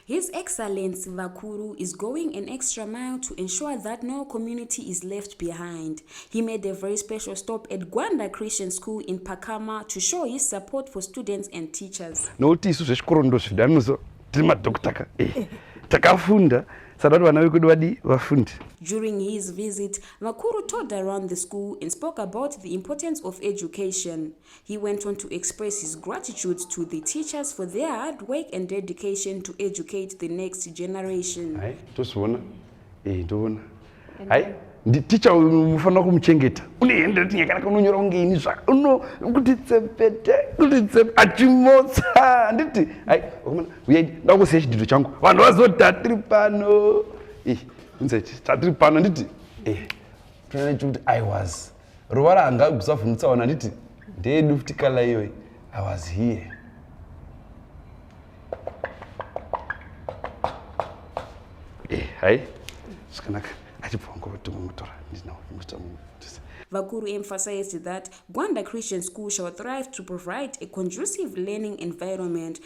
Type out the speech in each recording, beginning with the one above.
His Excellency Vakuru is going an extra mile to ensure that no community is left behind. He made a very special stop at Gwanda Christian School in Pakama to show his support for students and teachers. Nokuti isu zvechikoro ndozvida muzo tiri madhokita ka eh, takafunda sadati vana vekudu vadi vafundi. During his visit, Vakuru toured around the school and spoke about the importance of education. He went on to express his gratitude to the teachers for their hard work and dedication to educate the next generation. Hai, tosiona. Eh, ndoona. Hai, ndi teacher uyu mufanira kumuchengeta. Une hende tinye kana kunonyora kunge ini zva. Uno kuti tsepete, kuti tsep achimotsa. Nditi, hai, ukamana, uya ndakusiya chidido changu. Vanhu vazotatiri pano. Eh, unzeti tatiri pano anditi eh tinoona chikuti i was ruvara anga kusavhunutsa wana anditi ndeyedu futi kala iyoyi i was here eh hai zvakanaka achibva wangu vatumwa mutora ndinawo muita munhu Vakuru emphasized that Gwanda Christian School shall thrive to provide a conducive learning environment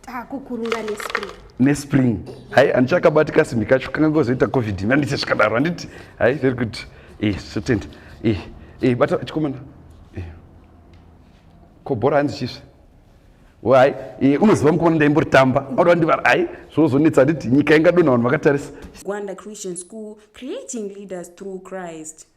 takukurura nespring nespring hai handichakabati kasimbi kacho kanga kozoita covid ini handicha chikadaro handiti hai very good eh zvotenda eh eh bata chikomana eh ko bhora hanzi chisve wai eh unoziva mukomana ndaimbori tamba auda wandivara hai zvozonetsa handiti nyika ingadona vanhu vakatarisa gwanda christian school creating leaders through christ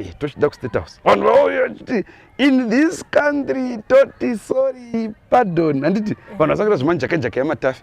Eh, tochida kustate house vanhu vauya vachiti in this country toti sorry pardon handiti vanhu vasakuita zvemanjakajaka yamatafi